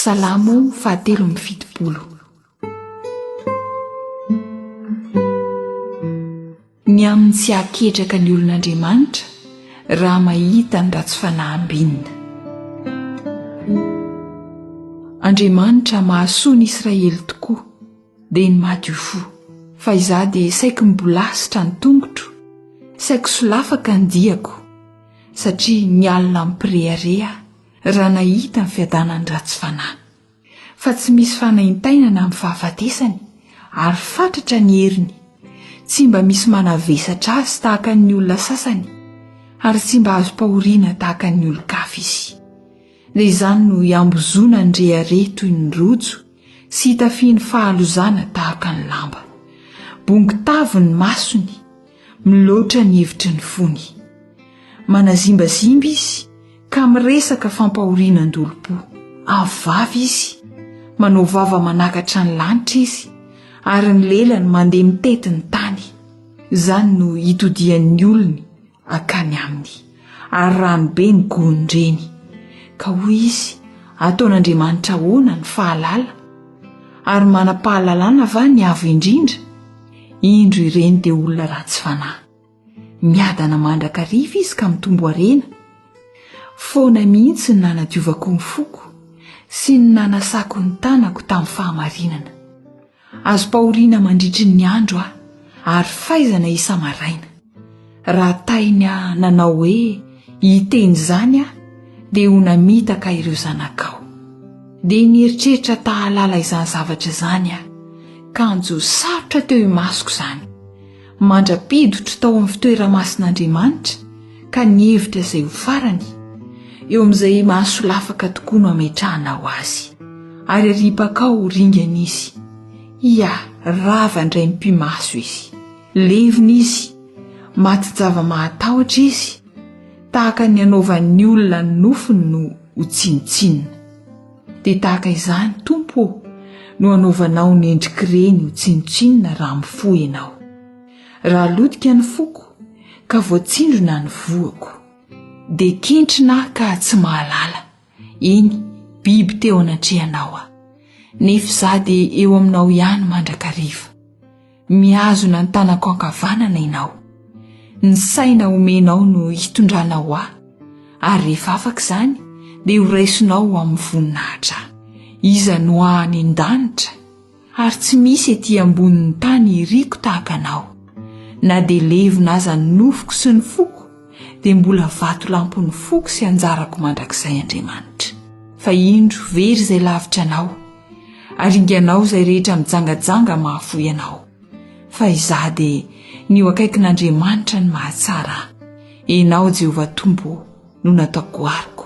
Salamo fahatelo amby fitopolo Ny amin'ny tsy hahaketraka ny olon'Andriamanitra raha mahita ny ratsy fanahy ambinina. Andriamanitra mahasoa ny Israely tokoa, dia ny madio fo, fa izaho dia saiky mibolasitra ny tongotro, saiky solafaka ny diako. satria ny alina mipirehareha raha nahita ny fiadanan'nyratsy fanahy, fa tsy misy fanaintainana amin'ny fahafatesany, ary fatratra ny heriny, tsy mba misy manavesatra azy tahaka ny olona sasany, ary tsy mba azom-pahoriana tahaka ny olon-kafa izy. Dia izany no iambozona ny rehareha toy ny rojo sy itafiany fahalozana tahaka ny lamba. Bongo tavy ny masony, Miloatra ny hevitry ny fony. Manazimbazimba izy ka miresaka fampahoriana an-dolom-po. Avo vava izy. Manao vava manakatra ny lanitra izy, ary ny lelany mandeha mitety ny tany. Izany no itodihan'ny olony akany aminy, ary rano be ny gonin-dreny. Ka hoy izy, Ataon'Andriamanitra ahoana ny fahalala? Ary manam-pahalalana va ny Avo Indrindra? Indro ireny dia olona ratsy fanahy. Miadana mandrakariva izy ka mitombo harena. Foana mihitsy ny nanadiovako ny foko sy ny nanasako ny tanako tamin'ny fahamarinana. Azom-pahoriana mandritry ny andro aho, ary faizana isa-maraina. Raha taina nanao hoe hiteny izany aho, dia ho namitaka ireo zanakao. Dia nieritreritra tahalala izany zavatra izany aho. Kanjo sarotra teo imasoko izany. Mandra-pidotro tao amin'ny fitoera-mason'Andriamanitra ka nihevitra izay ho farany, eo amin'izay mahasolafaka tokoa no ametrahanao azy. Ary aripakao ho ringana izy. Ia, rava indray mipi-maso izy. Levona izy, maty java-mahatahotra izy, tahaka ny anaovan'ny olona ny nofony no ho tsinontsinona. Dia tahaka izany, Tompo ô, no anaovanao ny endrik'ireny ho tsinontsinona raha mifoha Ianao. Raha lotika ny foko, ka voatsindrona ny voako. Dia kentrina aho ka tsy mahalala. Eny, biby teo anatrehanao aho, nefa izaho dia eo aminao ihany mandrakariva. Mihazona ny tanako ankavanana ianao. Ny saina omenao no hitondranao ahy, ary rehefa afaka izany, dia horaisonao ho amin'ny voninahitra ahy. Iza no any an-danitra? Ary tsy misy ety ambonin'ny tany iriko tahaka anao, na dia levona aza ny nofoko sy ny foko, dia mbola vatolampon'ny foko sy anjarako mandrakizay Andriamanitra. Fa indro very izay lavitra anao, ary inganao izay rehetra mijangajanga mahafoy anao. Fa izaho dia ny ho akaikin'Andriamanitra ny mahatsara ahy, ianao Jehovah Tompo ô, no nataoko goariko.